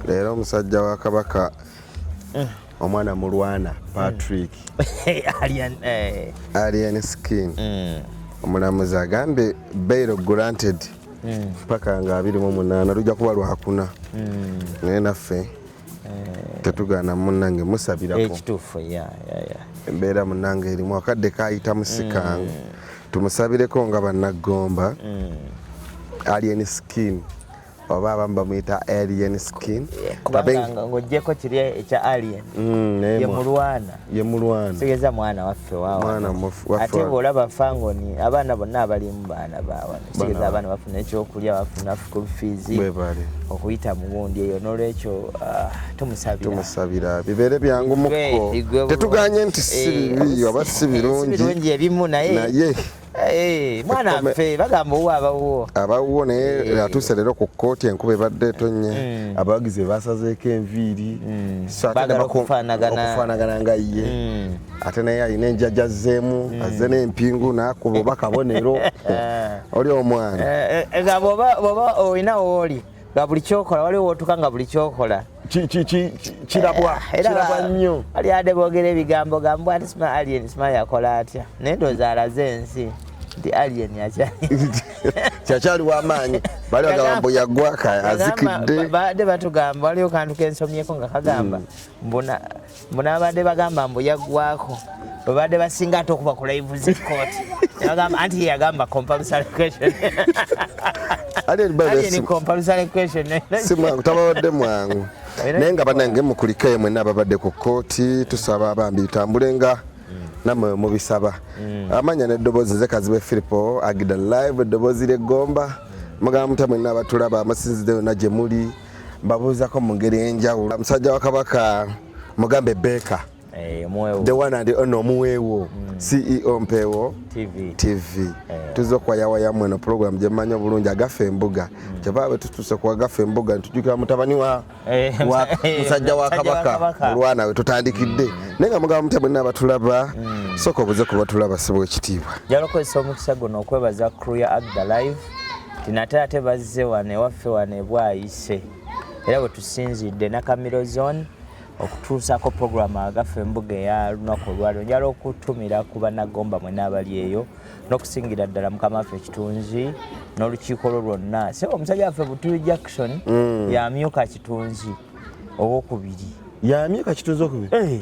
leero omusajja wa kabaka eh. omwana mulwana patrick eh. alien, eh. alien skin mm. omulamuzi agambye bail granted mm. paka nga abiri mu munaana lujja kuba lwakuna mm. naye naffe eh. tetugaana munange musabirakoekituufu eh, yeah, yeah, yeah. embeera munange erimu akadde kayita musikangu mm. tumusabireko nga banaggomba mm. alien skin oba abamu bamuyita alien skin eh, kubanga ng'ogyeko kiri ekya alien mm, yemulwana yemulwana tegeza mwana waffe waate bwolaba fangoni abaana bonna abalimu baana baawa tegeza abaana bafuna ekyokulya bafuna school fees okuyita mu gundi eyo n'olwekyo ah, tumusabiratumusabira bibeere byangu mukko tetuganye nti si eh, bibi oba si birungi ebimu naye Eh, mwana ffe bagamba owo abawuwo abawuwo naye eh. atuuse leero ku kkooti enkuba ebadde etonnya hmm. abawagizi be basazeeko enviiri hmm. okufaanagana nga ye hmm. ate naye alina enjaja zeemu azze n'empingu n'akuba oba kabonero oli omwana eh, nga bwoba olina wooli nga buli kyokola waliwo wotuka nga buli kyokola kirabwa eh, kirabwa nnyo ali ade boogera ebigambo gambwa ati sima alien sima yakola atya naye ndooza alaze ensi nti alien kyakyali wamaanyi bali bagamba mbu yagwaka azikidde baade batugamba waliwo kantu kensomyeko nga kagamba hmm. mbuna mbu nabadde bagamba mbu yaggwako bwebadde basinga ate okuba ku laivu zekooti bagamba anti yeyagamba compulsory question tababadde mwangu naye nga banange mukulikayo mwena ababadde ku kooti tusaba bambi tambule nga namwe mubisaba mm. amanya neddoboozi ze kazibe filipo agida live eddoboozi lyegomba mugamba mutya mwena abatulaba amasinzidde yona gyemuli mbabuuzako mu ngeri enjawulo musajja wa kabaka mugambe beeka eh, the one and ono omuweewo mm. ceo mpeewo tv, TV. Eh. tuza okuwayawayamu eno pulogulamu gyemmanyi obulungi agafa embuga mm. kyeva bwe tutuuse ku agafa embuga ntujukira mutabani wa eh, musajja wa kabaka olwana we tutandikidde mm. naye nga mugamba mutya bwenna abatulaba mm. sooka obuze ku batulaba sibwa ekitiibwa jalokozesa omukisa guno okwebaza crew ya agda live tinate ate bazze wano ewaffe wano ebwayise era wetusinzidde nakamiro zone okutuusako puroguramu agaffe embuga eya lunaku olwaliro njala okutumira ku banagomba mwena abali eyo n'okusingira ddala mukama waffe ekitunzi n'olukiiko lwo lwonna se omusajja waffe butuli jackson mm. yamyuka kitunzi owokubiri yamyuka kitunzi okubiri eh.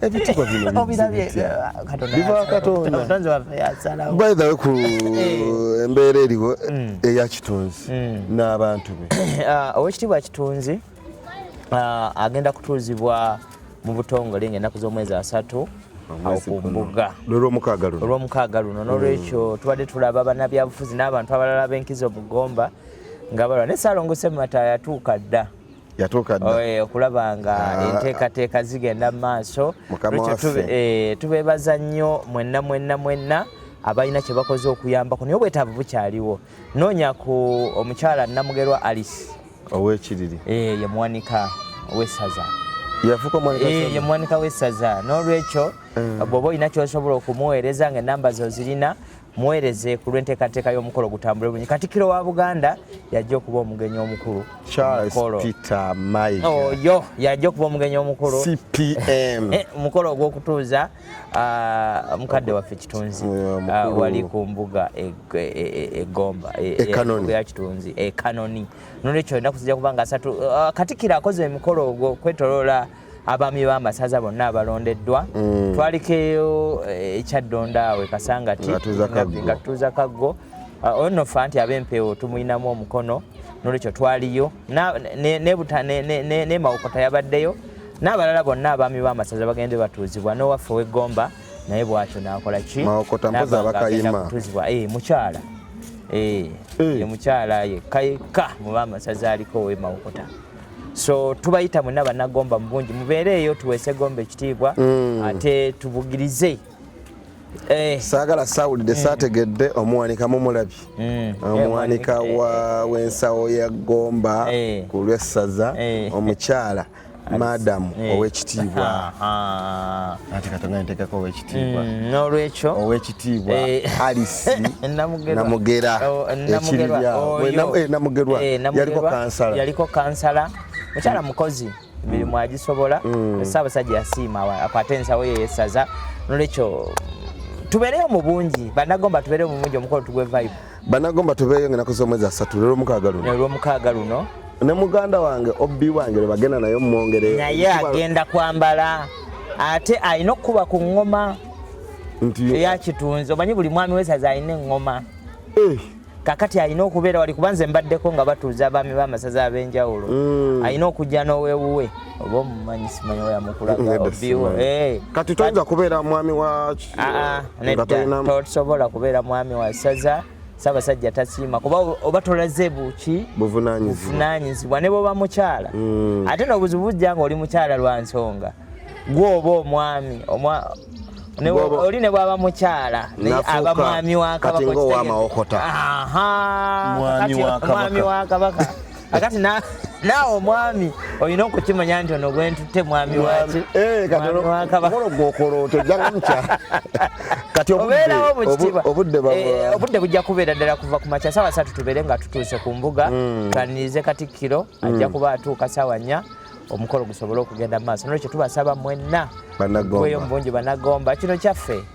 ebitibwa bino biva katondaby the way ku eh. embeera eriwo hmm. eya kitunzi hmm. n'abantu be ah, owekitiibwa kitunzi ah, agenda kutuuzibwa mu butongole ngaenaku z'omwezi asatu okumbuga olwomukaaga luno nolwekyo hmm. tubadde tulaba banabyabufuzi n'abantu abalala b'enkizo mugomba nga balwa ne saalongo sematta yatuuka dda yatuuka dda eh, okulaba nga ah. enteekateeka zigenda mu maaso eh, tubeebaza nnyo mwenna mwenna mwenna abalina kye bakoze okuyambako naye obwetaavu bukyaliwo noonya ku omukyala namugerwa alice owekiriri eh, ye muwanika wessaza ye muwanika wessaza n'olwekyo bw'oba olina kyosobola okumuweereza nga enamba zo zirina muweereze ku lw'enteekateeka y'omukolo gutambule bulungi katikiro wa buganda yajja okuba omugenyi omukulu charles peter maiga oyo oh, yajja okuba omugenyi omukulu cpm eh, omukolo ogw'okutuuza ah, mukadde waffe kitunzi ah, wali ku mbuga egomba e, e, e, ya kitunzi ekanoni nolwekyo enaku zijja kuba nga asatu ah, katikiro akoze omukolo ogwo kwetoloola abaami b'amasaza bonna abalondeddwa mm. twalikeyo eh, ekyaddonda awe kasangati nga tuuza kaggo ah, oyo nno fa nti ab'empeewo tumulinamu omukono nolwekyo twaliyo nemawokota yabaddeyo n'abalala bonna abaami b'amasaza bagende batuuzibwa n'owaffe ow'eggomba naye bwatyo nakola ki kutuzibwa eh, mukyala eh, mukyala yekka yekka muba amasaza aliko ow'emawokota so tubayita mwena banagomba mubungi mubeereeyo tuweese gomba ekitiibwa mm. ate tubugirize eh. saagala sawulidde mm. saategedde omuwanika mumulabye mm. eh, omuwanika eh. w'ensawo ya gomba ku lwessaza omukyala madamu owekitiibwa ah, ah. ati katonga ntekako owekitiibwa Mm, n'olwekyo owekitiibwa eh, alisi namugera oh, ekiriryanamugera eh, eh, yaliko kansala yaliko kansala mukyala mm. mukozi emirimu mm. agisobola ssaabasajja yasiima akwate ensawo ye yesaza n'olwekyo tubeereyo mu bungi banagomba tubeereyo mu bungi omukolo tugwe vibe banagomba tubeeyo nga nakoze omwezi asatu lero mukaaga luno lero mukaaga luno ne muganda wange obbi wange lwe bagenda naye mumwongere naye agenda kwambala ate alina okukuba ku ŋŋoma eyakitunzi omanyi buli mwami wesaza alina eŋŋoma eh. kakati alina okubeera wali kuba nze mbaddeko nga batuuza abaami b'amasaza ab'enjawulo mm. alina okujja n'owewuwe oba omumanyi simanyi oyo amukulaga obiwo eh. kati toyinza kubeera mwami wa ah, ah, tosobola kubeera mwami wa saza sabasajja tasiima kuba oba tolaze buki buvunanyizibwa ne bwoba mukyala hmm. ate nobuzibu bujja nga oli mukyala lwa nsonga gwoba omwami oli ne bwaba mukyala aba mwami wakabaka mwami wakabaka akati naawe omwami olina okukimanya nti ono gwentutte mwami wakimwamiwakabakolo eh, gwokoloota ojjanga mukya kati obeerawo mukitiibwaobudde eh, eh, bujja kubeera ddala kuva ku makya saawa satu tubeere nga tutuuse ku mbuga hmm. twanirize katikkiro hmm. ajja kuba atuuka saawa nnya omukolo gusobole okugenda mu maaso nolwekyo tubasaba mwenna bweyo mu bungi banagomba kino kyaffe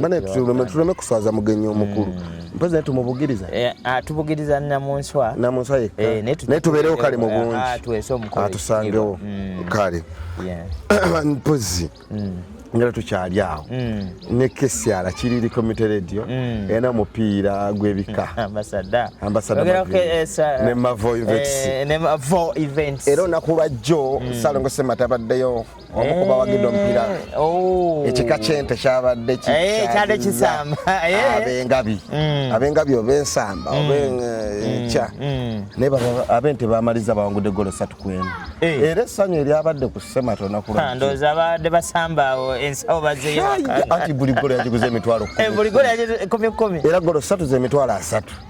bane tuleme kuswaza mugenyi omukulu mm. mpozi naye tumubugiriza eh, ah, tubugiriza namunswa namunswa yekka eh, naye tubeerewo kale mu bungi ah, atusangewo ah, mm. kale mpozi mm. ngera tukyali awo ne kesyala kiriri community radio ena mupiira gwebika ambasadaambasadane eh, mavo events era onaku lwajjo salongo semata abaddeyo omu ku bawagidde omupiira eh, oh. ekika kyente kyabadde eh, kyadde kisamba eh. abengabi mm. abengabi oba ensamba mm. oba enkya mm. naye abente bamaliza bawangudde golo satu ku emu era essanyu eryabadde ku sematona kulndooza ah, babadde basambaawo ensawo bazeyoanti buli golo yagiguza emitwalo kumi era golo satu zemitwalo asatu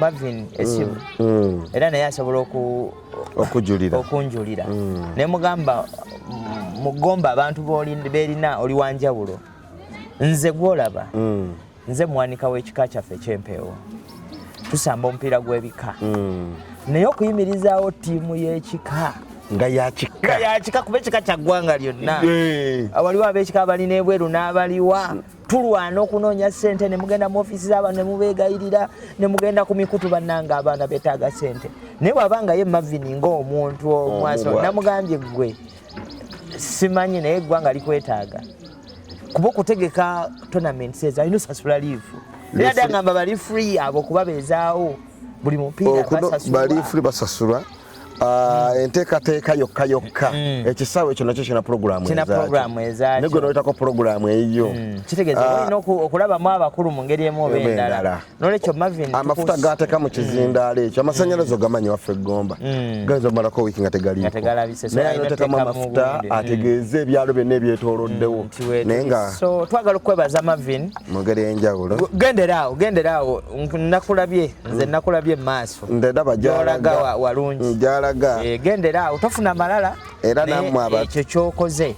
bavin esimu mm, mm. era naye asobola okujulira okunjulira mm. naye mugamba mugomba abantu berina oli wanjawulo nze gwolaba nze mwanika w'ekika kyaffe ekyempeewo tusamba omupiira gw'ebika naye okuyimirizaawo ttiimu y'ekika nga yakika kuba ekika kyaggwanga lyonna waliwo abekika abalina ebweru n'abaliwa tulwana okunoonya sente nemugenda mu ofisi zabantu nemubegayirira nemugenda ku mikutu bannanga abaana betaaga sente naye bwabanga ye mavini ngaomuntu omwaso oh, namugambye gwe simanyi naye eggwanga likwetaaga kuba okutegeka tournament seza alina osasula liivu era dangamba bali free abo kuba bezaawo buli mupiira basasulwa Ah, enteekateeka yokka yokka mm. ekisaawe kino kyo kina pulogulaamu ezaakyo gwe noyitako pulogulaamu eyiyo mm. kitegeeza ah. olina okulabamu abakulu mu ngeri emu oba endala nolwekyo mavin amafuta gaateka mu kizindaalo ekyo mm. amasannyalaze ogamanyi waffe eggomba gayinza omalako wiiki nga tegaliikonaye notekamu amafuta ategeeze ebyalo byonna ebyetooloddewo naye nga twagala okukwebaza mavin mu ngeri enjawulo genderaawo genderaawo nakulabye nze mm. nakulabye maaso ndaba jalaga walungi mm, jalaga eh, gendera awo tofuna malala era namwe aba ekyo kyokoze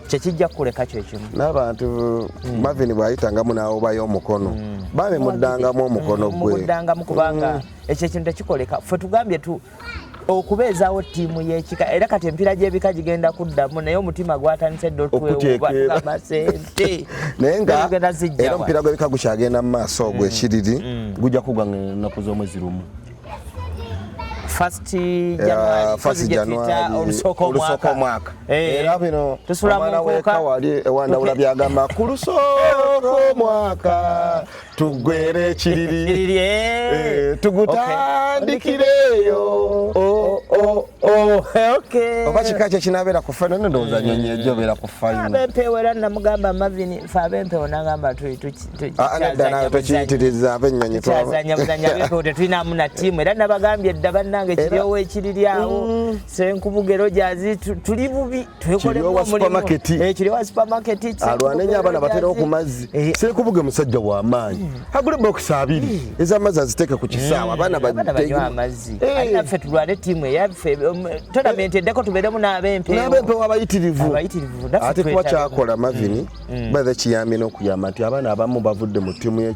kyekijja kukuleka kyekimu n'abantu mm. mavin bwayitangamu n'awobayo omukono mm. bambi muddangamu omukono gwe muddangamu kubanga ekyo ekintu tekikoleka ffe tugambye okubeezawo ttiimu y'ekika era kati empiira gy'ebika gigenda kuddamu naye omutima gwatandise dda otwewubatugamba sente naye nga era omupiira gw'ebika gukyagenda mu maaso ogwo mm. ekiriri mm. gujja kugwa nnaku z'omwezi lumu olusooka omwaka eh. era bino omwana weka wali ewandawula byagamba ku lusooka omwaka tugwere ekiriri kiriri eh. eh, tugutandikireeyo oh, oh, oh. oba kika kye kinabeera ku fayino nendowooza nyonyi ejo obeera ku fayinoabempewo era namugamba mavini fe abempewo nagamba nedda nawe tokiyitiriza abennyonyi twazanya buzanya abempewo tetulinamu na tiimu era nabagambye dda bannange kiryowo ekiriri awo mm. senkubuga ero gyazi tuli bubi kiriwa supermarket eh kiriwa supermarket alwane nya abana batera okumazi eh. sire kubuge musajja wa maanyi hmm. agule box abiri hmm. eza mazi aziteka ku kisawa abana hmm. batege amazi eh. alina fe tulwane timu ya fe um, tournament edeko tubedemu na abempe na abempe wabayitirivu abayitirivu ate kwa kyakola mavini badhe kiyamino kuyamati abana abamu bavudde mu timu ye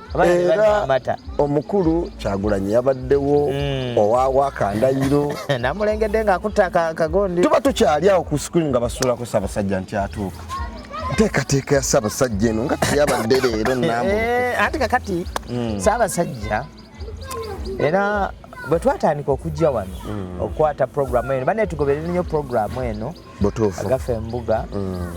era omukulu kyagulanyi yabaddewo mm. owawa kandayiro namulengedde nga akutta kagondi tuba tukyali awo ku screen nga basuulako sabasajja nti atuuka nteekateeka ya sabasajja eno nga teyabadde leero nambu eh, anti kakati mm. sabasajja era bwe twatandika okujja wano mm. okukwata programu eno banetugoberere nnyo programu eno butuufu agafa embuga mm.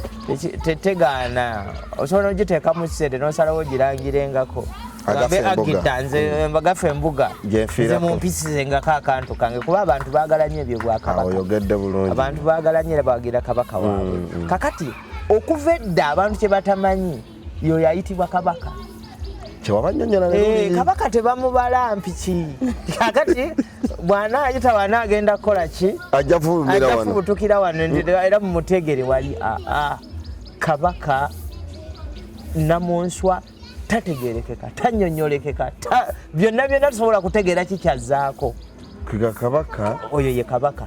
tegaana osobola ogiteekamu kisente nosalawo ogirangirengako agita nze mm. mbagafa embuga nze mumpisize ngako akantu kange kuba abantu bagala nyo ebyo bwakabakabantu ah, bagala nyo era bawagira kabaka waabwe mm, kakati okuva edda abantu kyebatamanyi yoyo ayitibwa kabaka kyewabanyonyola eh, kabaka tebamubala mpiki kakati bwana ayita bwana agenda kukola ki ajja fubumira wano ajja fubutukira wano mm. ndi era mumutegere wali a a kabaka namunswa tategerekeka tanyonyolekeka ta byonna byonna tusobola kutegeera kikyazaako kiga kabaka oyo ye kabaka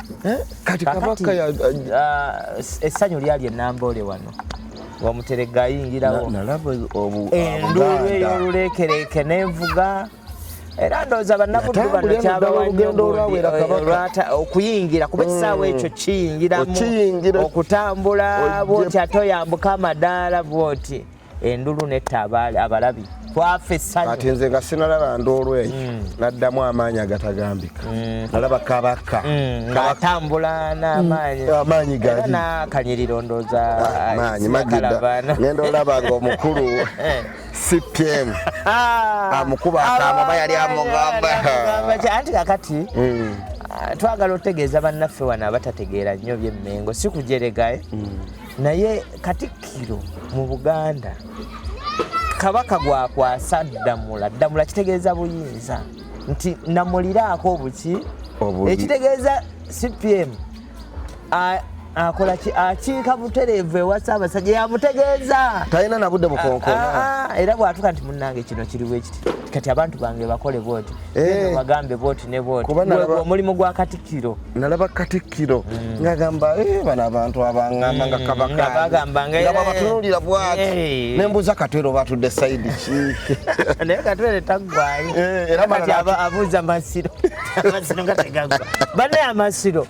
eh, kati kabaka ya ah, essanyu lyali enamboole wano wamuterega ayingirawo nalaba enduulu ey'oluleekereeke n'envuga era ndowooza bannabuddu bano kyabawanyoolwata okuyingira kuba ekisaawa ekyo mm. kiyingiramu okutambula bwoti ate oyambuka amadaala bwoti endulu netta abaali abalabi twafa essanyu kati nze nga sinalaba ndoolo eyo mm. naddamu amaanyi agatagambika mm. nalaba kabaka mm, atambula n'amaanyiamaanyi ganakanyiriro ndooza ah, maanyi magida ngenda olaba nga omukulu eh. cpm ah. amukuba akamaba yali amugamba anti kakati ah, twagala otegeeza bannaffe wano abatategeera nnyo byemmengo si kujeregae naye katikkiro mu buganda kabaka gwakwasa ddamula ddamula kitegeeza buyinza nti namuliraako obuki ekitegeeza cpm akola ki akiika butereevu ewa ssaabasajja yamutegeeza talina nabudde bukonkona era bwatuka nti munnange kino kiriwo ekiti kati abantu bange bakole bwoti eh. bagambe bwoti ne bwoti omulimu gwa katikkiro nalaba katikkiro mm. ngagamba eh, bano abantu abangamba nga mm. kabakababatunulira bwati eh. nembuuza katwero batudde saidi kinaye katwere taggwayo eh, kati abuuza masiro amasiro nga tegagwa banaye amasiro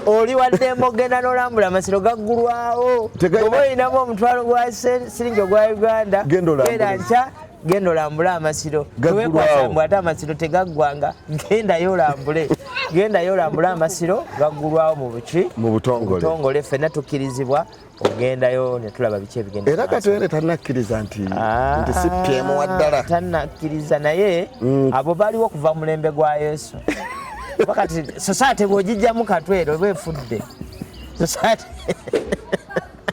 oli waddemba ogenda nolambula amasiro gaggulwawo oba olinamu omutwalo gwa siringi ogwa uganda genda nkya genda olambule amasiro tewekwasambwe ate amasiro tegaggwanga gendayo olambule gendayo olambule amasiro gaggulwawo mu buki mu butongole ffenna tukkirizibwa ogendayo netulaba biki ebigenda era katwere tanakkiriza nti ah, nti si pyemu waddala tanakkiriza naye mm. abo baliwo kuva mulembe gwa yesu wakati sosate bwogijjamu katwere oba efudde sosate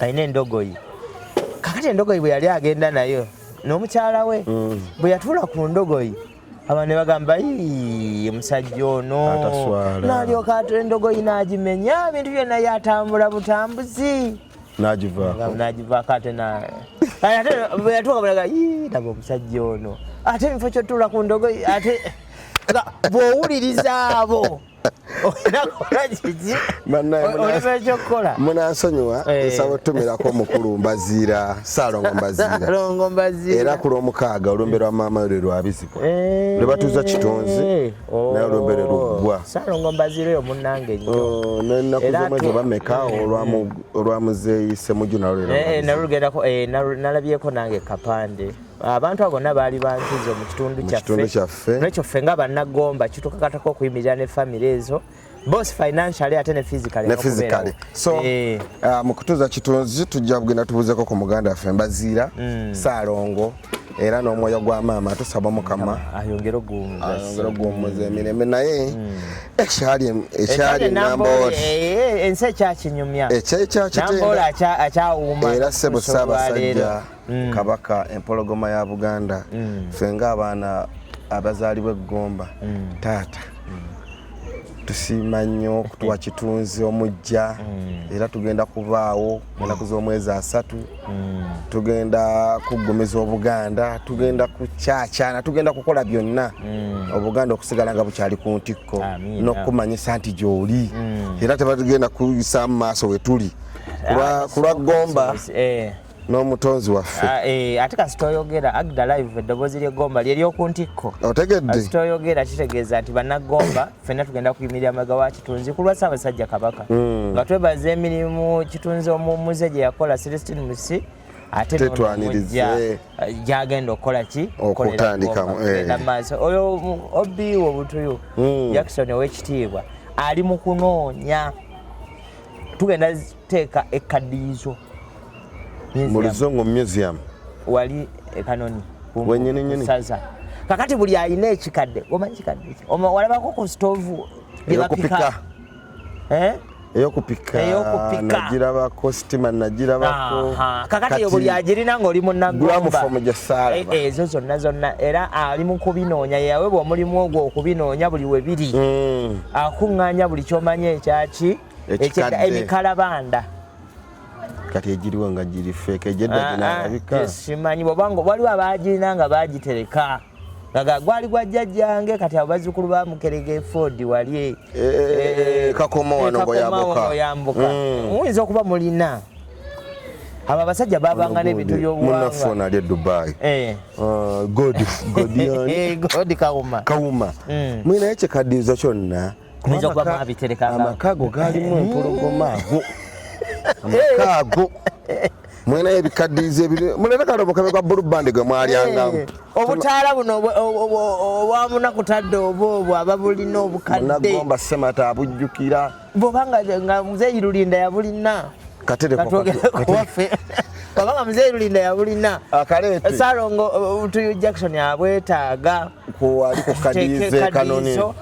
alina endogoyi kakati endogoyi bwe yali agenda nayo n'omukyala we mm. bwe yatuula ku ndogoyi abantu ne bagamba omusajja ono nalyoka atu endogoyi n'agimenya ebintu byonna yatambula butambuzi nagivaako ate ate bwe yatuuka bulaga laba omusajja ono ate ebifo kyotuula ku ndogoyi ate bw'owuliriza abo munansonyiwa eh. nsaba otumirako omukulu mbaziira saalongo mbaziira era ku lwomukaaga olumbe lwa maama lwe lwabizibwa eh. lwe batuuza kitonzi naye olumbe lwe luggwa nenaku zomwezi obameka olwa muzeeyi semujju nalwo lwnalugendako nalabyeko nange kapande abantu abo bonna baali bankizo mu kitundu kyaffe nekyo ffe nga bannagomba kitukakatako okuyimirira ne famiry ezo both financially ate ne physically ne physically so eh. uh, mu kutuza kitunzi tujja kugenda tubuzeko ku muganda waffe mbaziira mm. saalongo era n'omwoyo gwa maama tusaba mukama ayongere okuwummuza emirembe naye hmm. ekyali ekyali nambooli eh, eh, ensi ekyakinyumya ekyekyakitenda era sebo ssaabasajja mm. kabaka empologoma ya buganda mm. fe nga abaana abazaalibwa eggomba mm. taata mm. tusiima nnyo okutuwa mm. kitunzi omujja mm. era tugenda kubaawo mm. mu nnaku z'omwezi asatu mm. tugenda kuggumiza obuganda tugenda kukyakyana tugenda kukola byonna mm. obuganda okusigala nga bukyali ku ntikko n'okukumanyisa nti gy'oli mm. era tebatugenda kuyisaamu maaso we tuli kulwa ah, gomba eh. n'omutonzi waffe ah, eh, ate kasita oyogera agda live eddoboozi ly'eggomba lye ly'oku ntikko otegedde kasita oyogera kitegeeza nti bannagomba ffenna tugenda kuyimirira amaga wa kitunzi ku lwa ssaabasajja kabaka hmm. nga twebaza emirimu kitunzi omumuze gye yakola celestin musi ate tetwaniriza eh. gyagenda okukola ki okutandikamu eh. maaso oyo obi wo butuyu hmm. jackson ow'ekitiibwa ali mu kunoonya tugenda teeka ekkaddiyizo mu luzungu museum wali ekanoni wenyininyini saza kakati buli alina ekikadde omanyi kikadde walabako ku stoovu gyebapika eh? eyokupika nagirabako sitima nagirabako kakati yo buli agirina ngaoli munagombagyasaala e, e, ezo zonna zonna era ali mu kubinoonya yeyawebwa omulimu ogwo okubinoonya buli webiri mm. akuŋŋaanya buli kyomanya ekyaki ekyenda emikalabanda kati egiriwo nga giri feeka egyeddaginabika ah, ah, simanyi bwobanga waliwo abagirina nga bagitereka nga gwali gwa jjajjange kati abo bazzukulu ba mukerega efodi wali e, e, e, kakoma wano ngoyambuka mm. muyinza okuba mulina abo abasajja babanga n'ebintu by'obuwangwamunafona ali edubai eh. ah, god eh, kawuma kawuma mm. mwe naye kyekaddiza kyonna kuyinza kuba mwabiterekanga amaka ago gaalimu empologoma ago amaka ago mulinayo ebikaddiizi ebiri mulina kale obukabe bwa bulu bandi gwe mwalyangamu eh, obutaala buno obwamuna kutadde oba obwo ababulina obukaddegomba semata abujjukira bwoba nga muzeeyi lulinda yabulina katerewaffe oba nga muzeeyi lulinda yabulina akaleete salongo uh, tuyu jackson abwetaaga kuwali kukadiize kanoni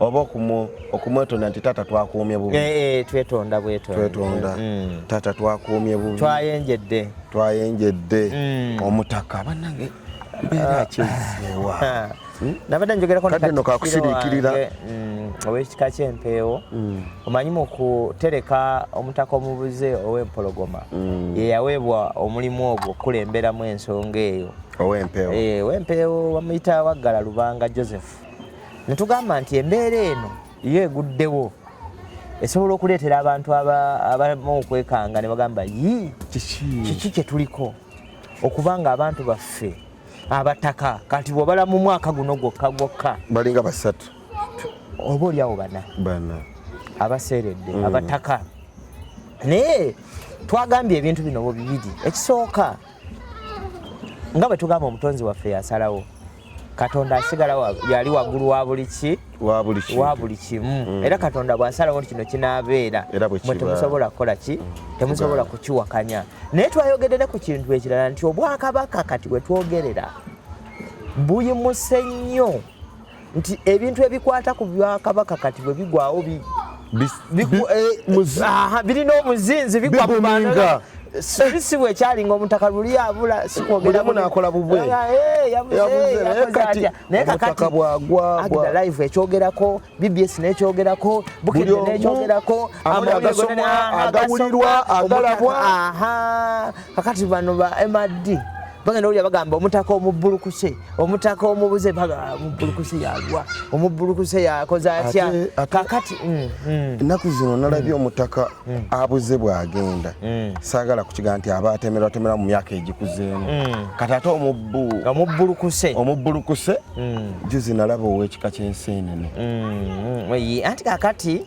oba okumwetonda nti taata twakuumye bubi eh, eh, twetonda bwetwetonda mm, mm. taata twakuumye bubi twayenjedde twayenjedde mm. omutaka banange mbeera ah. kyezeewa ah. hmm? nabadde njogerako kadde no kakusiriikirira owekika kyempeewo mm. omanyi mu kutereka omutaka omubuze owempologoma mm. yeyaweebwa omulimu ogwo okukulemberamu ensonga eyo owempeewo eh, wamuyita waggala lubanga joseph ne tugamba nti embeera eno yo eguddewo esobola okuleetera abantu abamu okwekanga ne bagamba yi kiki kye tuliko okuba nga abantu baffe abataka kati bwobala mu mwaka guno gwokka gwokka balinga basatu oba olyawo bana bana abaseeredde mm. abataka naye twagambye ebintu bino bibiri ekisooka nga bwe tugamba omutonzi waffe yasalawo katonda asigala yali waggulu wa buli ki wa buli kimu mm. era katonda bw'asalawo nti kino kinaabeera mwe temusobola kukola ki mm. temusobola kukiwakanya naye twayogedde ne ku kintu ekirala nti obwakabaka kati bwe twogerera buyimuse nnyo nti ebintu ebikwata ku bwakabaka kati bwe bigwawo birina omuzinzi bigwa mu bantu si bwe kyali nga omutaka luli abula sikwogeranakola bubwenayekatilive ekyogerako bbs nekyogerako bukede nekyogerako agawulirwa agalabwa kakati bano ba mrd bagenda olya bagamba omutaka omubbulukuse omutaka omubuze omubbulukuse yalwa omubbulukuse yakoze atya kakati mm, mm. ennaku zino nalabye mm. omutaka abuze bwagenda saagala kukiga nti aba atemerwatemera mu myaka egikuzeemu kati ate omubbulukuse omubbulukuse juzi nalaba owekika kyensi enene anti kakati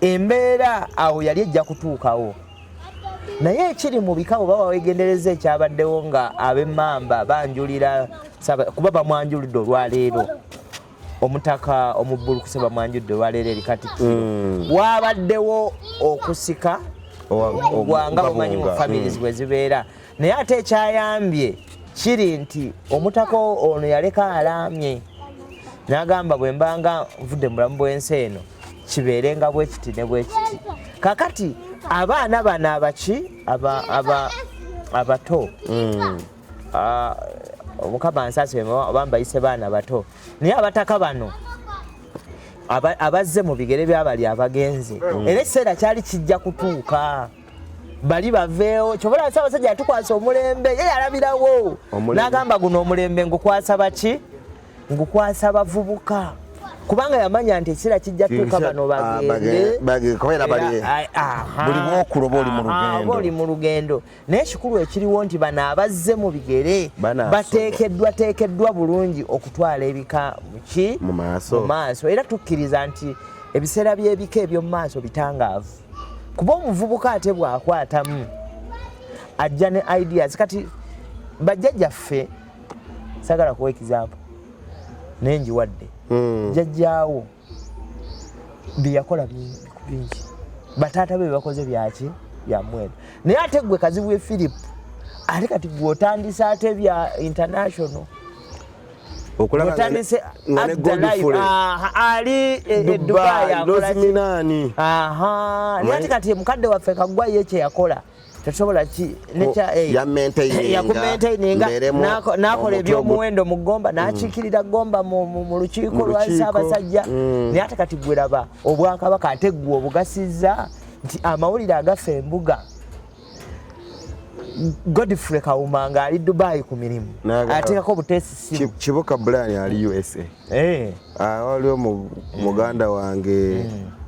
embeera awo yali ejja kutuukawo naye ekiri mu bika bwe baba wegendereza ekyabaddewo nga ab'emmamba banjulira kuba bamwanjulidde olwaleero omutaka omubbulukuse bamwanjudde olwaleero eri kati hmm. waabaddewo okusika ogwanga bumanyi mu families hmm. bwe zibeera naye ate ekyayambye kiri nti omutaka ono yaleka alaamye n'agamba bwe mbanga nvudde mulamu bw'ensi eno kibeerenga bwe kiti ne bwe kiti kakati abaana bano abaki abato mm. ah, omukama nsasi oba mbayise baana bato naye abataka bano abazze mu bigere byabali abagenze mm. era ekiseera kyali kijja kutuuka bali baveewo kyobola nsi abasajja yatukwasa omulembe ye yalabirawo n'agamba guno omulembe ngukwasa baki ngukwasa bavubuka kubanga yamanya nti ekiseera kijja tuuka bano ah, bagendeoli ah, mu lugendo naye ekikulu ekiriwo nti bano abazze mu bigere bateekeddwa teekeddwa bulungi okutwala ebika muki mu maaso era tukkiriza nti ebiseera by'ebika eby'omu maaso bitangaavu kuba omuvubuka ate bw'akwatamu ajja ne ideas kati bajjajjaffe sagala kuwa example naye njiwadde hmm. jajjaawo byeyakola bingi bataata be bebakoze byaki byamwera naye ate gwe kazibwe philip ate kati gwe otandise ate bya international otandise ali edubayi akola naye ate kati mukadde waffe kagwayo ekyeyakola tetusobola ki nekya nakola ebyomuwendo mu gomba nakiikirira mm. gomba mu lukiiko lwa ssaabasajja mm. naye ate kati gweraba obwakabaka ate gwe obugasizza nti amawulire agafa embuga godfrey kawuma nga ali dubai ku mirimu ateekako obutesisimu kibuka brian ali usa eh. ah, waliwo muganda eh. wange eh.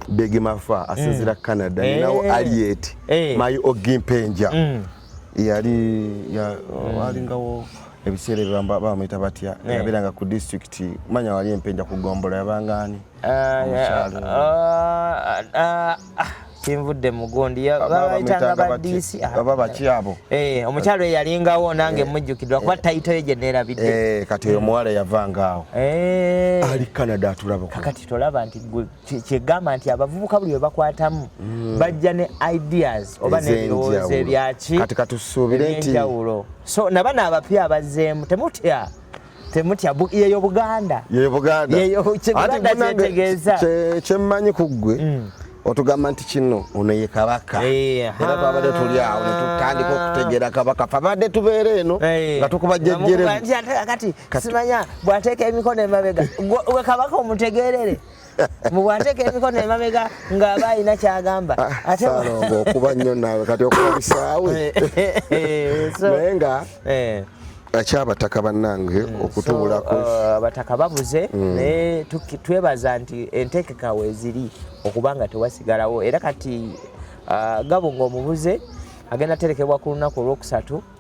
big mafa asinzira canada ninawo aliet mayi ogimpenja mm. yali mm. walingawo ebiseera ebyo bamuyita batya yabeeranga ku disitulikiti manya wali empenja ku gombola yabanga ani ah, ah, ah, kinvudde mugundi babayitanga badisi ah, baba bakyabo eh, omukyalo eyalingawo nange eh. mujjukidwa kuba eh. tayito ye gyenerabidde kati oyo muwala yavangaawo ali canada atulaba kakati tolaba nti kyegamba nti abavubuka buli webakwatamu hmm. bajja ne ideas oba nebirowoozo ebyaki kati katusuubire nti so nabana abapya abazzeemu temutya temutya yeyo buganda yeyo buganda yeyo kiganda kyetegeeza kyemmanyi ku ggwe mm. otugamba nti kino ono ye kabaka era twabadde tuli awo netutandika okutegeera kabaka fabadde tubeera eno nga tukuba jjejjeremu kati simanya bwateeka emikono emabega gwe kabaka omutegeerere mubwateka emikono emabega ng'aba alina kyagamba ah, salongo okuba nnyo naawe kati okuba bisaawe naye nga eh. akyabataka bannange mm. okutubulako uh, abataka babuze mm. naye twebaza nti enteekeka weeziri okuba nga tewasigalawo era kati uh, gabo ng'omubuze agenda terekebwa ku lunaku olwokusatu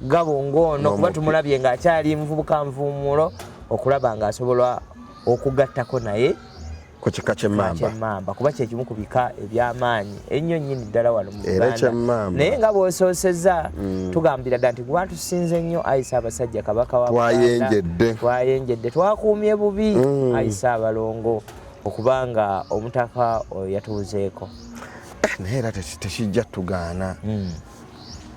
gabo ng'ono kuba tumulabye ng'akyali muvubuka nvuumuulo okulaba ng'asobola okugattako naye ku kika kyemmamba kuba kyekimu ku bika ebyamaanyi ennyo nnyini ddala wano mu uganda naye nga bwosoosezza mm. tugambira dda nti kuba tusinze nnyo ayisa abasajja kabaka watwayenjedde twayenjedde twakuumye bubi mm. ayisa abalongo okuba nga omutaka oyo yatuuzeeko eh, naye era tekijja tugaana mm.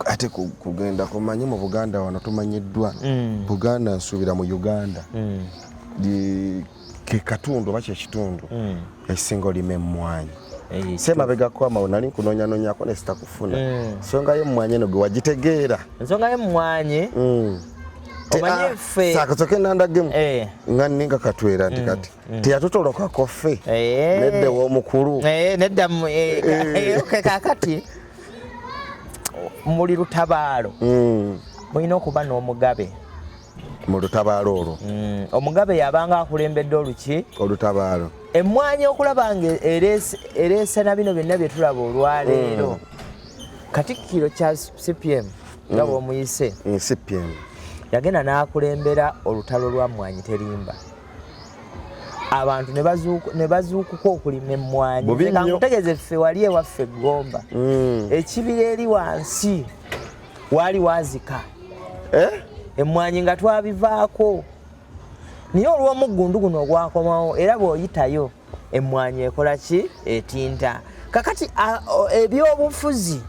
ate kugenda kumanyi mu buganda wano tumanyiddwa mm. buganda nsuubira mu uganda mm. ke katundu oba kyekitundu mm. ekisinga olima emmwanyi semabegako amawo nali nkunonyanonyako nesitakufuna ensonga mm. yemmwanyi eno gwe wagitegeera ensonga yemmwanyi mm. sakosoke ah, nandagemu eh. nga ninga katwera nti mm, kati mm. teyatutolokako ffe eh. nedda ewomukulu eh, nedda kakati muli lutabaalo mm. mulina okuba n'omugabe mu lutabaalo olwo mm. omugabe yabanga akulembedde oluki olutabaalo emmwanyi okulaba nga ereese na bino byonna bye tulaba olwaleero mm. katikkiro kya cpm nga bwomuyise cpm yagenda n'akulembera olutalo lwa mmwanyi terimba abantu ne bazuukuka okulima emmwanyi kankutegeze ffe wali ewaffe eggomba hmm. ekibira eri wansi waali wazika eh? emmwanyi nga twabivaako naye olw'omuggundu guno ogwakomawo era bw'oyitayo emmwanyi ekola ki etinta kakati ebyobufuzi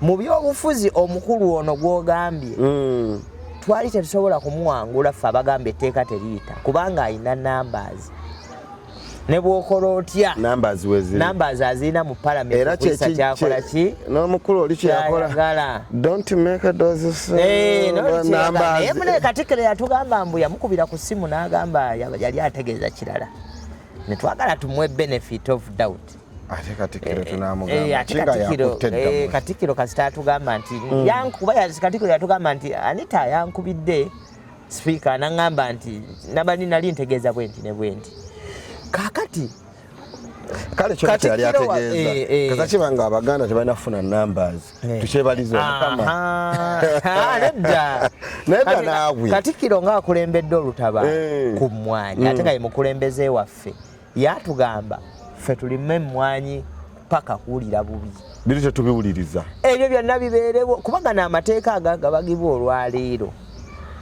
mu byobufuzi omukulu ono gwogambye mm. twali tetusobola kumuwangula ffe abagamba etteeka teriyita kubanga alina numbers ne bwokola otya numbers wezi numbers azina mu parliament era kye kyakola ki no mukulu oli kyakola gala don't make a dose of eh no numbers e mune katikere yatugamba mbu yamukubira ku simu nagamba yali ategeza kirala ne twagala tumwe benefit of doubt ate katikiro eh, tunamugambakitikiro eh, eh, kasita atugamba nti mm. yankuba katikiro yatugamba nti anita yankubidde sipiika naŋamba nti nabani nali ntegeeza bwenti ne bwenti kakati kale kyo kati yali ategeeza eh, eh. kaza kiba nga abaganda tebalina kufuna numbers eh. tukyebaliza omukama ah, nedda nedda naawe katikiro ng'akulembedde olutaba ku mmwanyi ate nga ye mukulembeze waffe yatugamba ffe tulime emmwanyi paka kuwulira bubi biri tetubiwuliriza ebyo byonna bibeerewo kubanga n'amateeka agagabagibwa olwaleero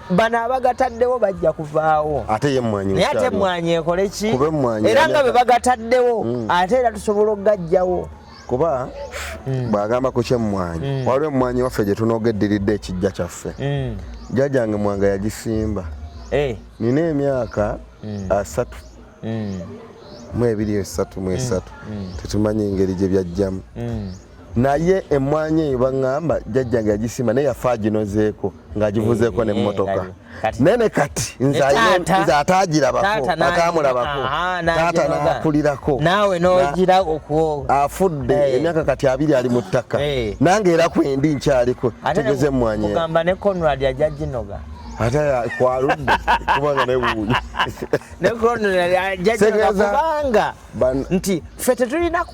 bano abagataddewo bajja kuvaawo ate ye mmwanyi naye ate emmwanyi ekole ki era nga bwe bagataddewo mm. ate era tusobola okugajjawo kuba mm. bwagamba ku kyemmwanyi mm. waliwo emmwanyi waffe gye tunoga eddiridde ekijja kyaffe jjajjange mwanga yagisimba eh. nina emyaka asatu mm. mu ebiri esatu mu esatu mm, mm. tetumanyi engeri gye byajjamu naye emmwanyi eyo baŋŋamba jajjange yagisima naye yafa aginozeeko ng'agivuzeeko eh, n'emmotoka eh, naye ne kati nze ataagirabako ataamulabako taata n'akulirako naawe n'ogira okwo afudde eh. emyaka kati abiri ali mu ttaka nange era kwendi nkyaliko tegeze emmwanyi eyo ate kwaludde kubanga newuuyo kubanga nti ffe tetulina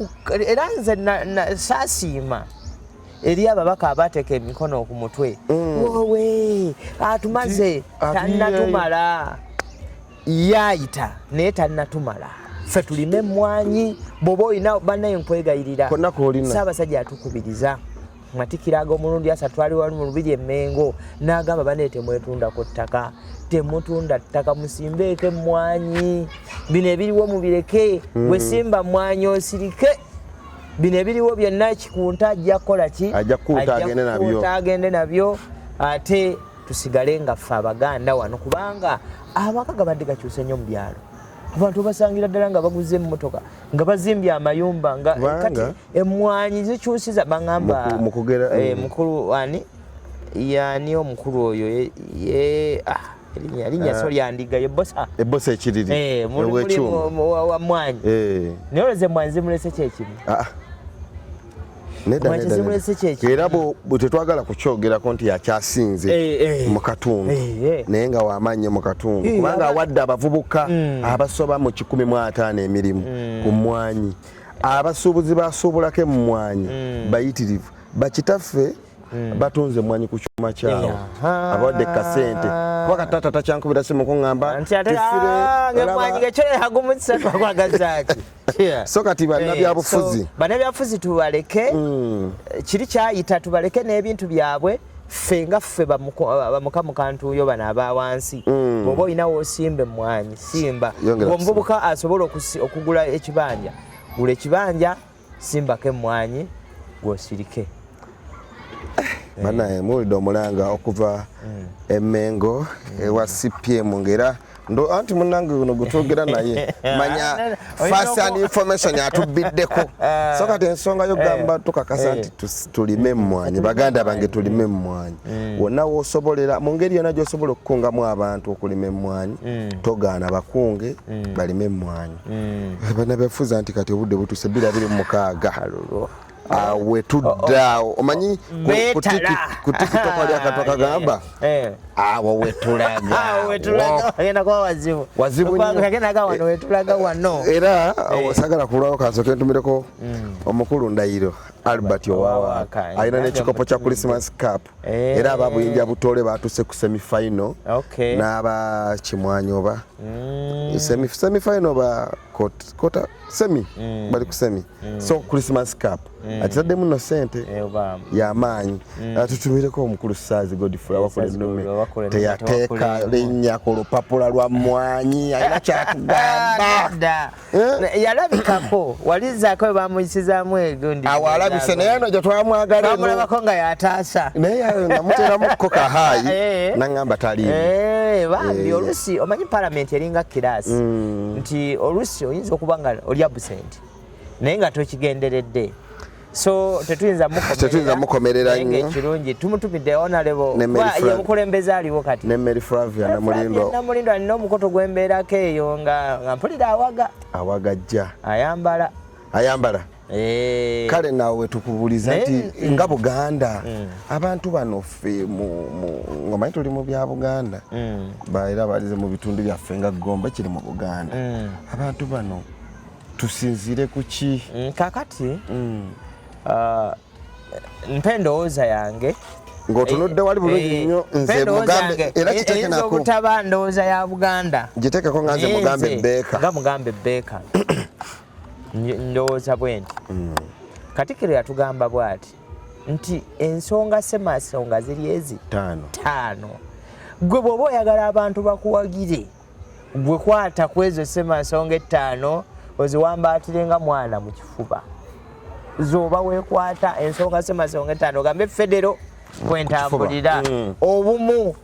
era nze saasiima eri ababaka abateeka emikono ku mutwe mm. wowe atumaze tanatumala yaayita naye tanatumala ffe tulime emmwanyi bwoba olina banaye nkwegayirira saabasajja atukubiriza matikira ag'omulundi asatu ali wali mu lubiri emmengo n'agamba bane temwetundako ttaka temutunda ttaka musimbeeko emmwanyi bino ebiriwo mubireke hmm. wesimba mmwanyi osirike bino ebiriwo byonna kikunta ajja kukola ki ajja kukunta agende nabyo ate tusigale nga ffe abaganda wano kubanga amaka gabadde gakyuse nnyo mu byalo abantu basangira ddala nga baguze emmotoka nga bazimbye amayumba nga kati emmwanyi zikyusiza bangamba eh, mukulu ani yani omukulu oyo ye ah, erinya ah. so lyandiga yebosa ebosa ekiriri eh, wa mwanyi eh. naye oleze mwanyi zimulese kyekimu ah, era tetwagala kukyogerako nti yakyasinze eh, eh. mu katundu eh, naye nga wamaanyi mu katundu kubanga awadde abavubuka mm. abasoba mu kikumi mu ataano emirimu mm. ku mwanyi abasuubuzi basuubulako emmwanyi mm. bayitirivu bakitaffe mm. batunze emmwanyi ku kyuma kyawo abawadde kasente kuba kataata takyankubira simu kuŋamba ah, so kati banabyabufuzi eh, banabyabufuzi tubaleke mm. kiri kyayita tubaleke n'ebintu byabwe ffe nga ffe bamuka mukantuuyo bano aba wansi mm. bwoba olinawo osimba emmwanyi simba omuvubuka asobola okugula ekibanja gula ekibanja simbako emmwanyi gwosirike Eh. banaye muwulidde omulanga okuva mm. emengo mm. ewa cpm ngaera ndo anti munange uno gutwogera naye manya first and information atubiddeko so kati ensonga yo eh. gamba tukakasa eh. nti tulime mmwanyi baganda bange tulime mmwanyi mm. wonna wosobolera mu ngeri yona gyosobola okukungamu abantu okulima emmwanyi mm. togaana bakunge mm. balime emmwanyi banabefuza nti kati obudde butuse bira biri mukaaga Ah, we tudda oh, oh. omanyi kutikitoko lyakatoka gamba awo wetulagaagenda wano era eh. sagala kulwawo kansoke ntumireko mm. omukulu ndayiro albert owawaka eh, alina nekikopo kya christmas cap eh. era aba buyinja butole batuse ku semifinal n'aba kimwanyi oba mm. semifinal ba kota semi mm. bali ku semi mm. so christmas cap mm. akitaddemu no sente eh, yamaanyi mm. ah, tutumireko omukulu saazi godfrey awakula ennume teyateeka linnya ku lupapula lwa mmwanyi alina kyatugamba eh? yalabikako walizaako we bamuyisizaamu egondiawo alabise naye no gyetwamwagalamulabako nga yataasa naye namuteramuko kahaayi eh. naŋamba taliimu bambi oluusi omanyi palamenti eringa kiraasi nti oluusi oyinza okuba nga olya busente naye nga tokigenderedde so tetuyinza tetuyinza mukomerera nnyo ekirungi tumutumidde onalebo ye mukulembeze aliwo kati ne Mary Flavia na Mulindo na Mulindo alina omukoto gw'embeerako eyo nga nga mpulira awaga awaga ajja ayambala ayambala eh. kale naawe wetukubuliza nti mm. nga buganda mm. abantu bano ffe ngamanyi tuli mu bya buganda mm. baera balize mu bitundu byaffe nga gomba kiri mu buganda abantu bano tusinzire kuki mm, kakati mm. Uh, mpa endowooza yange ng'otunudde wali bulungi eh, eh, nnyo nze mugambe era kitekenako obutaba ndowooza ya buganda gitekeko nga nze mugambe beeka nga mugambe beeka ndowooza bwenti mm. katikiro yatugamba bwati nti ensonga semasonga ziri ezi taano gwe bwoba oyagala abantu bakuwagire gwe kwata ku ezo ssemansonga ettaano oziwambaatire nga mwana mu kifuba zoba wekwata ensonga ssemansonga ettaano ogambe federo kwentambulira mm. obumu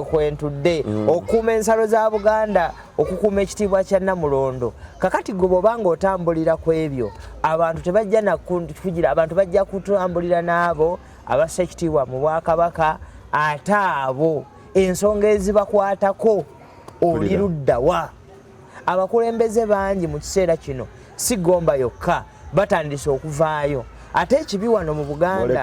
kwentudde mm. okukuuma ensalo za buganda okukuuma ekitiibwa kya namulondo kakati gwe bwoba nga otambulira ku ebyo abantu tebajja nakugira abantu bajja kutambulira n'abo abassa ekitiibwa mu bwakabaka ate abo ensonga ezibakwatako oli luddawa abakulembeze bangi mu kiseera kino si gomba yokka batandise okuvaayo ate ekibi wano mu buganda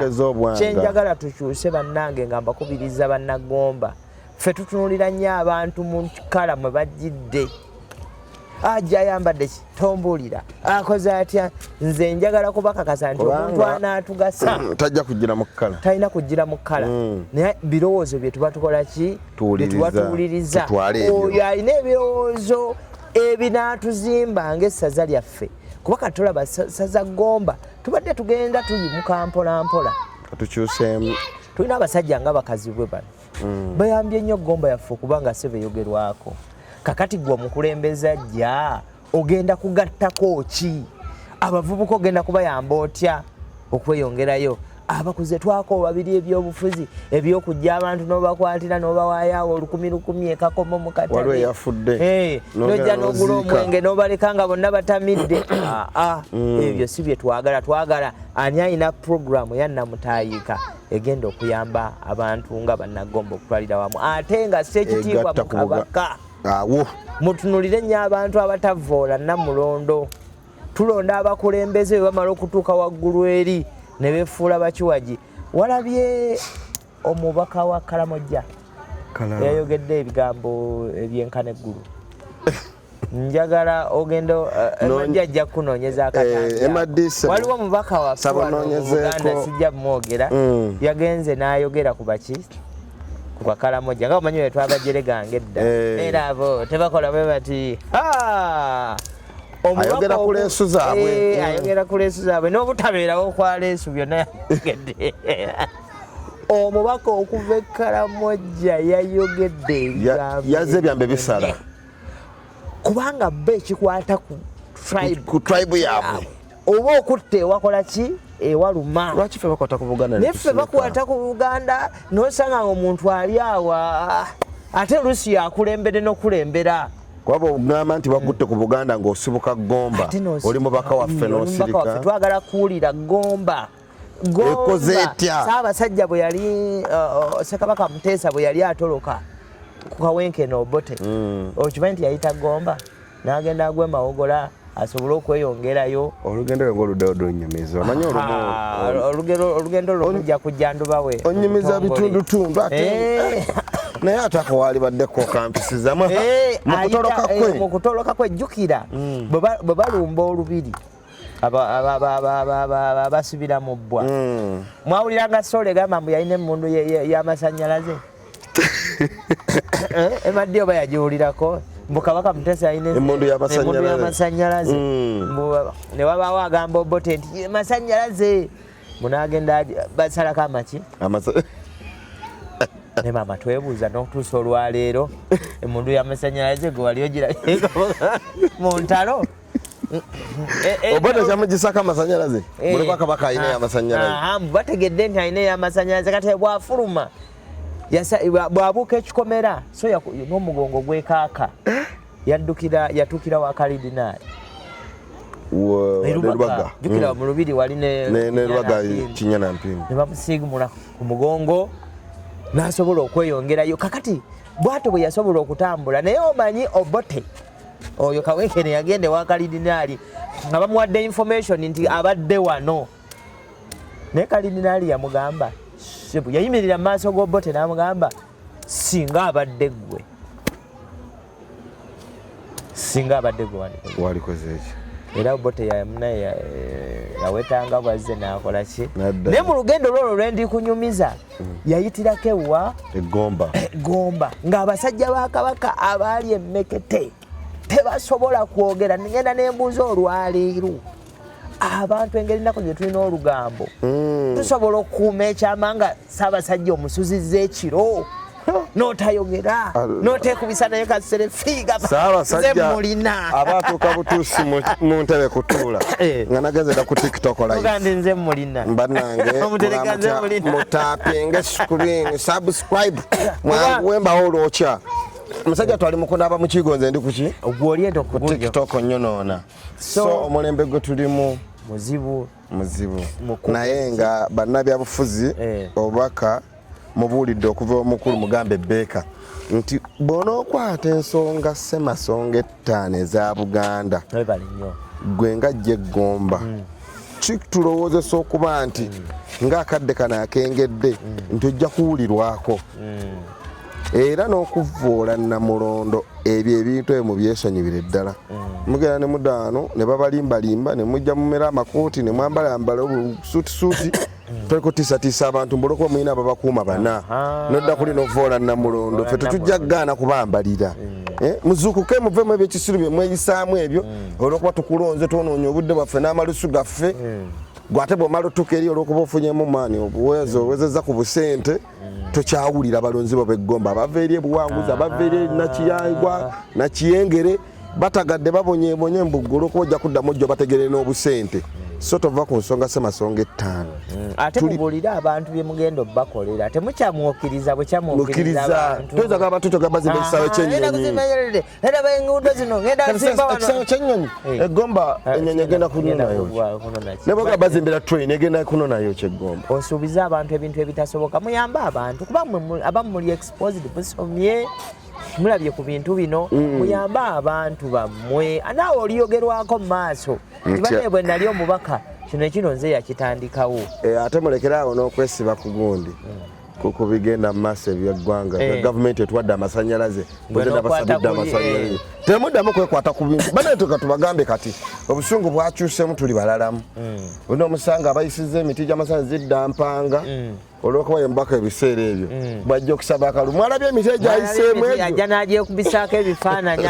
kyenjagala tukyuse bannange nga mbakubiriza bannagomba ffe tutunulira nnyo abantu mu kikala mwe bajjidde ajja ayambadde ki tombuulira akoze atya nze njagala kubakakasa nti omuntu anaatugasa tajja kujjira mu kkala talina kujjira mu kkala mm. naye birowoozo bye tuba tukola ki byetuba tuwuliriza oyo alina ebirowoozo ebinaatuzimba ngaessaza lyaffe kuba kati tulaba saza gomba tubadde tugenda tuyimuka mpolampola tukyuseemu tulina abasajja nga bakazi bwe bano mm. bayambye nnyo gomba yaffe okuba nga sebe yogerwako kakati gwe omukulembeze ajja ogenda kugattako ki abavubuka ogenda kubayamba otya okweyongerayo abakuze twako babiri ebyobufuzi ebyokujja abantu nobakwatira nobawayaawo olukumi lukumi ekakomo mukatnojja eh, nogula omwenge nobaleka nga bonna batamidde ah, ah, mm. ebyo si byetwagala twagala ani ayina programu yanamutayika egenda okuyamba abantu nga bannagomba okutwalira wamu ate nga si ekitiibwa mu kabaka awo mutunulire nnyo abantu abatavvoola namulondo tulonda abakulembeze bwe bamala okutuuka waggulu eri ne befuula bakiwagi walabye omubaka wa kalamojja yayogedde ebigambo ebyenkana eggulu njagala ogenda eh, emadi ajja kukunoonyeza akatawaliwo eh, omubaka waffeuganda sijja bumwogera mm. yagenze n'ayogera ku baki ku bakalamoja nga omanyi wetwabajere gange edda eh. era abo tebakola bwe bati ah! ayogera ku leesu zaabwe eh, mm. ayogera ku leesu zaabwe n'obutabeerawo kwa leesu byonna yayogedde omubaka okuva ekkalamojja yayogedde yaze ebyambe bisala kubanga bo ekikwata ku tribe yaabwe oba okutta ewakola ki ewaluma lwaki fe bakwata ku buganda naye fe bakwata ku buganda nosanga nga omuntu ali awa ah, ate oluusi yakulembere nokulembera kwaba ogamba nti wakutte ku buganda ngaosibuka gomba oli mubaka waffe nosirika twagala kuwulira gomba ekoze etya saabasajja bwe yali uh, uh, sekabaka muteesa bwe yali atoloka ku kawenke noobote mm. okimanyi nti yayita gomba n'agenda agwa emawogola asobole okweyongerayo olugendo lwe ngoluddayo donyumiza omanyi olugendo lwo lujja kujja nduba we onyumiza bitundutundu ate eh. naye atako walibaddeko kampisizamu eh, mukutoloka kwe eh, mukutoloka kwe jjukira mm. bwe balumba olubiri abasibira mu bbwa hmm. mwawuliranga sole gamba mbu yalina emundu yamasanyalaze eh, emaddi oba yagiwulirako mbu kabaka mutesi alina emundu yamasanyalaze hmm. newabawo agamba obote nti masanyalaze munagenda basalako amaki ne mama twebuuza nokutuusa olwaleero emundu yamasanyalaze gwe wali ogira mu ntalo Eh, eh, eh, oba tekyamugisako amasanyalaze mulikuwa kabaka alina yamasanyalaze ah, ah, ah, bategedde nti alina yamasanyalaze kati bwafuluma bwabuuka ekikomera so n'omugongo gwekaaka yaddukira yatuukira wa kalidinaali nerubaga jukira hmm. mu lubiri wali nerubaga kinya na mpingu ne bamusiigumula ku mugongo n'asobola okweyongerayo kakati bwato bwe yasobola okutambula naye omanyi obote oyo kawekene yagenda ewa kalidinaali nga bamuwadde information nti abadde wano naye kalidinaali yamugamba sebu yayimirira mu maaso g'obote n'amugamba singa abadde ggwe singa abadde gwe walikoze eki era obote yamunaye eh, yawetanga bwazze nakola ki naye mu lugendo lwolwo lwendi kunyumiza mm. yayitirako ewa egomba egomba ng'abasajja ba kabaka abaali emmekete tebasobola kwogera ngenda nembuuza olwaleero abantu engeri ennaku gye tulina olugambo mm. tusobola okukuuma ekyama nga saabasajja omusuzizza ekiro notayogera notekubisa naye kasere figa zemulina abatuuka butuusi mu ntebe kutuula eh. nga nagenze da ku tiktok live banange mutapinge screen subscribe mwanguwe mbawo olwokya musajja twali mukunaba mukigo nze ndi kuki tiktok nyonoona so omulembe gwe tulimu muzibu muzibu naye nga bannabyabufuzi eh. obubaka mubuulidde okuva omukulu mugambe beeka nti bw'onookwata ensonga ssemasonga ettaano eza buganda gwe nga jja eggomba mm. kitulowoozesa okuba nti mm. ng'akadde kano akengedde mm. nti ojja kuwulirwako era n'okuvvoola namulondo ebyo ebintu ebyo mubyesonyiwire ddala mugenda ne mudaano ne babalimbalimba ne mujja mumera amakooti ne mwambalambala obusuutisuuti Mm. toliko tisatiisa abantu mbuloko mulina babakuuma bana nodda kuli novoola namulondo fe tetujja kugaana kubambalira mm. eh, muzuukuke muvemu ebyekisiru byemweyisaamu ebyo mm. olwokuba tukulonze twonoonya obudde bwaffe n'amalusu gaffe gwe ate bwomala otuuka eri olwokuba ofunyemu maani obuwezo owezezza ku busente tokyawulira balonzi bo beggomba abava eri ebuwanguzi abava eri nakiyangwa nakiyengere batagadde babonyebonye mbuggulu okuba ojja kuddamu ojja bategere n'obusente so tova ku nsonga semasonga ettaano mm. ate mubuulire abantu bye mugenda obakolera temukyamwokiriza bwekyamwokiriza abantu abantu togamba zimba ekisaawe kyenyonyi era benguudo zino ngenda nsimba wano ekisaawe kyennyonyi eh. eggomba eh, ennyonyi egenda kunonayo ne bwega bazimbira train egenda kunonayo kyeggomba osuubiza abantu ebintu ebitasoboka muyambe abantu kuba abamu muli exposed busomye mulabye ku bintu bino mm. muyambe abantu bammwe naawe oliyogerwako mu maaso tibane bwe nali omubaka kino ekino nze yakitandikawo eh, ate mulekere awo n'okwesiba ku gundi mm. ku bigenda mu maaso ebyeggwanga nga eh. gavumenti etuwadde amasanyalaze bwegenda basabidde amasanyalaze eh. temuddamu kwekwata ku bintu banatuka tubagambe kati obusungu bwakyusemu tuli balalamu hmm. uno omusanga abayisiza emiti gyamasanya zidda mpanga hmm. olwokuba yemubaka ebiseera ebyo hmm. bwajja okusaba akalu mwalabye emiti egyayiseemu egyoajja nagyekubisaako ebifaananyi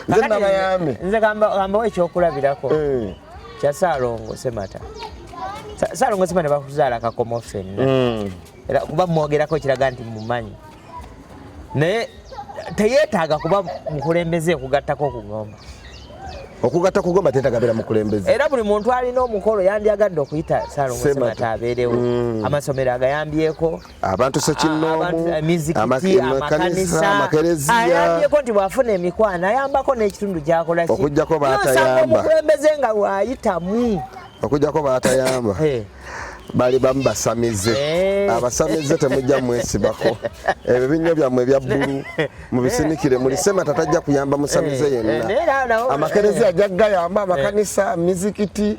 nze nabayambe nze gambawo ekyokulabirako eh. kya Salongo Semata. Salongo Semata bakuzaala kakomo fenna. Mm. Era kuba mwogerako kiraga nti mumanyi. Naye teyeetaaga kuba mukulembeze okugattako okugomba. Okugatta kugomba teetaaga beera mukulembeze. Era buli muntu alina omukolo yandyagadde okuyita Salongo Semata abeerewo. Mm. Amasomero agayambyeko. abantu sekinnoomu amakanisa amakereziyaalabyeko nti bwafuna emikwano ayambako n'ekitundu gyakola okujjako batayamba omukulembeze nga waayitamu okujjako batayamba eh. bali bamu basamize eh. abasamize temujja mwesibako ebyo binnyo byammwe ebya bbulu mubisinikire muli semata tajja kuyamba musamize eh, yenna eh, amakerezi ajja gayamba eh. amakanisa mizikiti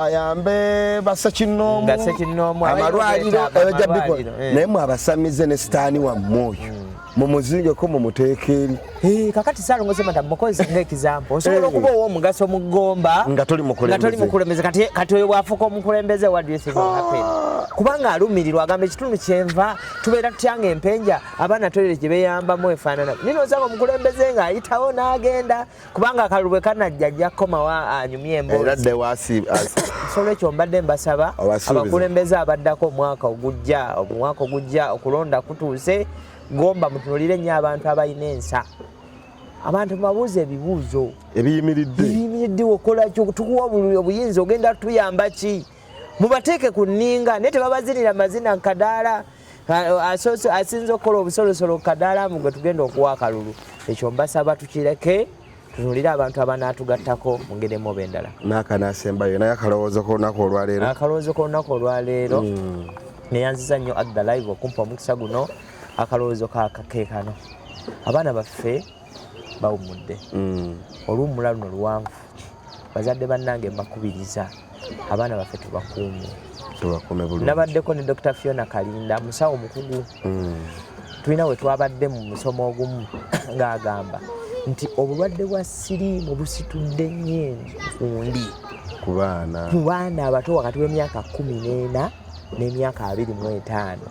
ayambe basekinoomu amalwaliro ebajja bikola naye mwe abasamize ne sitaani wammwe oyo hmm. mumuzingeko mumuteeka eri eh, kakati salongo semata mukozi nga ekizampo eh. osobola okuba owomugaso mu gomba nga toli mukulembeze kati oyo bwafuuka omukulembeze ah. kubanga alumirirwa agamba ekitundu kyenva tubeera tutyanga empenja abaana toyire gye beyambamu efaanana nino nsanga omukulembeze nga ayitawo n'agenda kubanga akalulu bwe kanajja ajja kukomawo anyumye emboozisolwekyo mbadde mbasaba abakulembeze abaddako omwaka ogujja omwaka ogujja okulonda kutuuse gomba mutunulire nnyo abantu abalina ensa abantu babuuza ebibuuzo ebiyimiridde ebiyimiridde okolaki tukuwa obuyinza ogenda tuyamba ki mubateeke ku nninga naye tebabazinira mazina nkadaala asinza okukola obusolosolo kadaala mu gwe tugenda okuwa akalulu ekyo mbasaba tukireke tunulire abantu abanaatugattako mu ngeri emu oba endala nakanaasembayo naye akalowoozo kolunaku olwaleero akalowoozo kolunaku olwaleero hmm. neyanziza nnyo at the live okumpa omukisa guno akalowoozo kakekano abaana baffe bawumudde hmm. oluwumula luno luwanvu bazadde bannange mbakubiriza abaana baffe tubakuume nabaddeko ne dr fiona kalinda musawo mukugu mm. tulina we twabadde mu musomo ogumu ng'agamba nti obulwadde bwa siriimu busitudde nnyo enkundi ku baana abato wakati w'emyaka kumi n'ena n'emyaka abiri mu etaano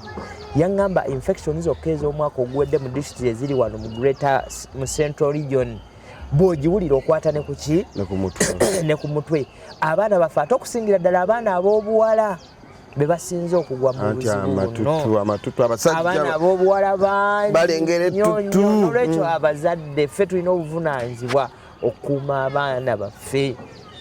yaŋŋamba infection zokka ez'omwaka oguwedde mu disitulikiti eziri wano mu greater mu central region bwogiwulira okwata ne kuki ne ku mutwe abaana baffe ate okusingira ddala abaana ab'obuwala be basinze okugwa mu buzibuabaana ab'obuwala bangiolwekyo mm. abazadde ffe tulina obuvunaanyizibwa okukuuma abaana baffe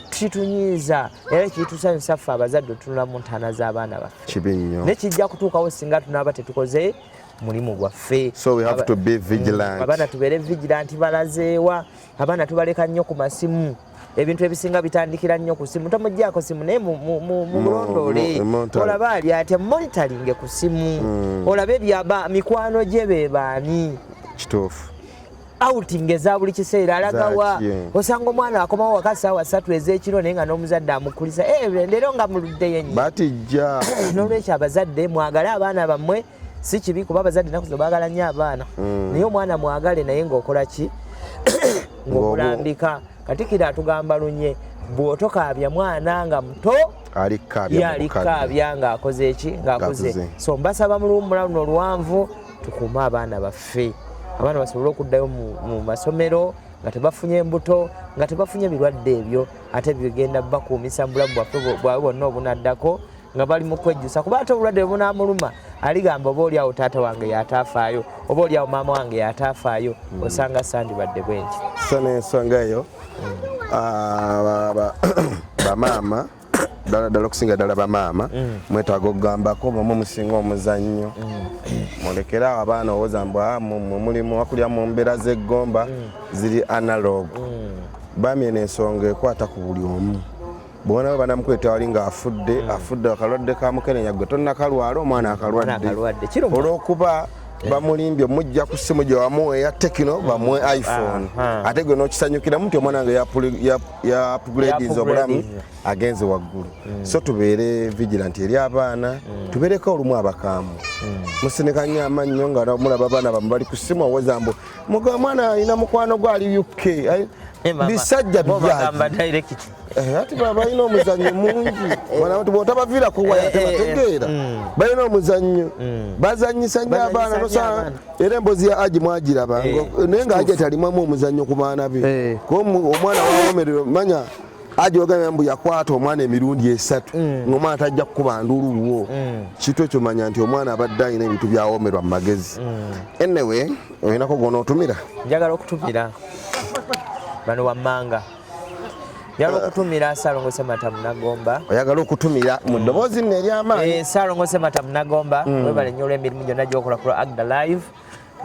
kitunyiiza era kitusanyusa ffe abazadde otunula mu ntaana z'abaana baffe nekijja kutuukawo singa tunaaba tetukoze mulimu gwaffe so we have to be vigilant mm, abaana tubeere vigilant balazeewa abaana tubaleka nnyo ku masimu ebintu ebisinga bitandikira nnyo ku simu tomujjako simu naye mumulondoole olaba ali atya monitoringe ku simu mm. olabe byaba mikwano gye bebaani kituufu outing eza buli kiseera alagawa osanga omwana akomawo waka saawa satu ezekiro naye nga n'omuzadde amukulisa eh, leero nga muluddeyo nyo batijja n'olwekyo abazadde mwagale abaana bammwe si kibi kuba abazadde naku zino baagala nnyo abaana mm. naye omwana mwagale naye ng'okola ki ng'omulambika katikiro atugamba lunye bw'otokaabya mwana nga muto yalikaabya ng'akoze eki ng'akuze so mbasaba mu luwummula luno oluwanvu tukuume abaana baffe abaana basobole okuddayo mu masomero nga tebafunye embuto nga tebafunye birwadde ebyo ate bigenda bakuumisa mu bulamu bwaffe bwawe bonna obunaddako nga bali mu kwejjusa kuba ate obulwadde bwe bunaamuluma aligamba oba oli awo taata wange yataafaayo oba oli awo maama wange yataafaayo hmm. osanga sandibadde bwenti so n'ensonga eyo ah, bamaama ddala ddala okusinga ddala bamaama mm. mwetaaga okugambako bwemu musinga omuzannyo mm. mulekere awo abaana owoza mbu ah, mulimu wakulya mu mbeera z'eggomba mm. ziri analog bamye n'ensonga ekwata ku buli omu bwona we banamukweta wali ng'afudde hmm. afudde akalwadde ka mukenenya gwe tonnakalwala omwana akalwadde olw'okuba eh. bamulimbye mujja ku simu gye wamuwa eya tekino hmm. bamuwe iphone ate gwe n'okisanyukiramu nti omwana wange yapugulediza obulamu agenze waggulu hmm. so tubeere vigilanti eri abaana tubeereko olumu abakaamu musinika nnyo amannyo nga mulaba abaana bamu bali ku simu oweza mbu muga omwana alina mukwano gwe ali uk bisajja bijaaji Eh, ati balina omuzannyo mungi eh. bwotabaviira kuwaya eh, tebategeera mm. balina omuzannyo mm. bazanyisa nyo abaana nosaa era embozi ya aji mwagiraba naye nga aji atalimamu omuzannyo ku baana be kuba omwana wawomerero manya aji ogambye mbu yakwata omwana emirundi esatu mm. ngaomwana tajja kukuba nduluwo kitu ekyo manya nti omwana abadde alina ebintu byawomerwa mu magezi enewe olinako gona otumira njagala okutumira bano wammanga yala okutumira salongo semata munagomba oyagala okutumira mu ddoboozi nno eryamaanyi eh, salongo semata munagomba mm. webale nnyo olw'emirimu gyonna gyokola ku agda live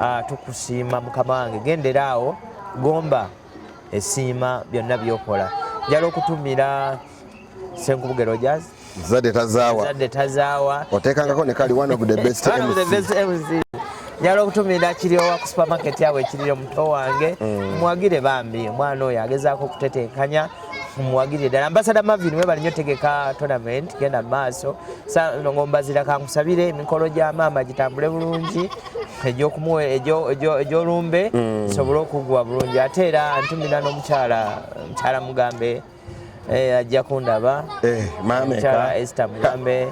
ah, tukusiima mukama wange gendera awo gomba esiima byonna byokola njala okutumira senkubugero jazz Zadde tazaawa. Zadde tazaawa. Oteekangako ne kali one of the best one MC. One of the best MC. Njala okutumira kiryowa ku supermarket yawe ekiryo muto wange. Mm. Mwagire bambi omwana oyo agezaako okutetenkanya muwagirire ddala ambasada mavin webali nyo tegeka tournament genda maaso ngombazira kankusabire emikolo gya maama gitambule bulungi egyolumbe mm. sobole okugwa bulungi ate era ntumira nomukyala mukyala mugambe eh ajja kundaba eh mama ka Esther Mugambe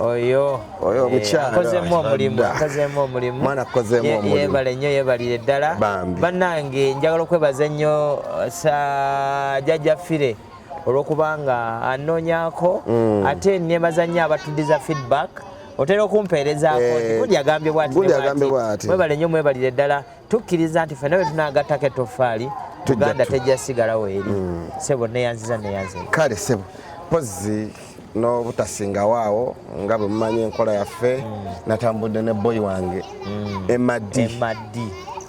oyo oyo eh, mukyala akozemu omulimu akozemu omulimu mwana akozemu omulimu yebale nnyo yebalire ddala bannange njagala okwebaza ennyo uh, sa jajja fire olwokubanga anoonyako mm. ate nebaza nnyo abatudiza feedback otera okumpeerezaako eh, guli agambye bwati mwebale nnyo mwebalire ddala tukkiriza nti fena bwetunagattako ettofaali tuganda tejja sigalawo eri mm. sebo neyanziza neyanzi kale sebo pozi n'obutasingawo awo nga bwe mumanyi enkola yaffe mm. natambudde ne boyi wange mm. emadi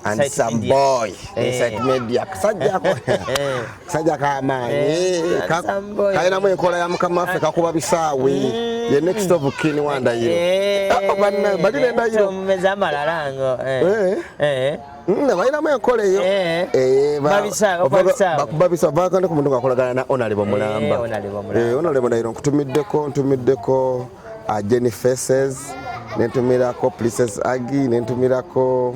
and some boy inside eh. media kasajjako eh. sajja kamaanyi eh, eh, kalinamu enkola ya mukama waffe kakuba bisaawe mm. ye next of kin wa ndayiro eh. oh, bali nendayiro mm, balinamu enkola eyo bakubabisa vakane ku muntu ngakolagana na onalebo mulamba onalebo ndayiro nkutumiddeko ntumiddeko uh, jenny faces nentumirako princess agi nentumirako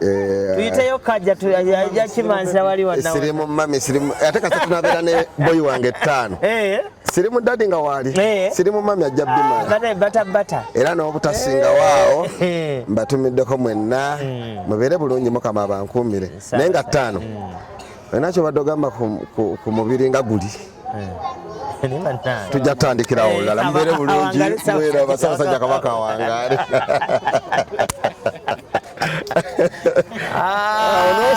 Eh, tuyiteyo kajja ajja kimanzira wali wanawe sirimu mami sirimu ate kasa tunabeera ne boy wange ttaano eh. sirimu dadi nga waali eh. sirimu mami ajja bimalabatabata ah, era n'obutasinga waawo mbatumiddeko mwenna hmm. mubeere bulungi mukama abankuumire naye nga ttaano hmm. olina kyobadde ogamba ku mubiri nga guli tujja kutandikirawo eh, olulala mubeere bulungi mubeere abasabasajja kabaka awangaale ah. ah,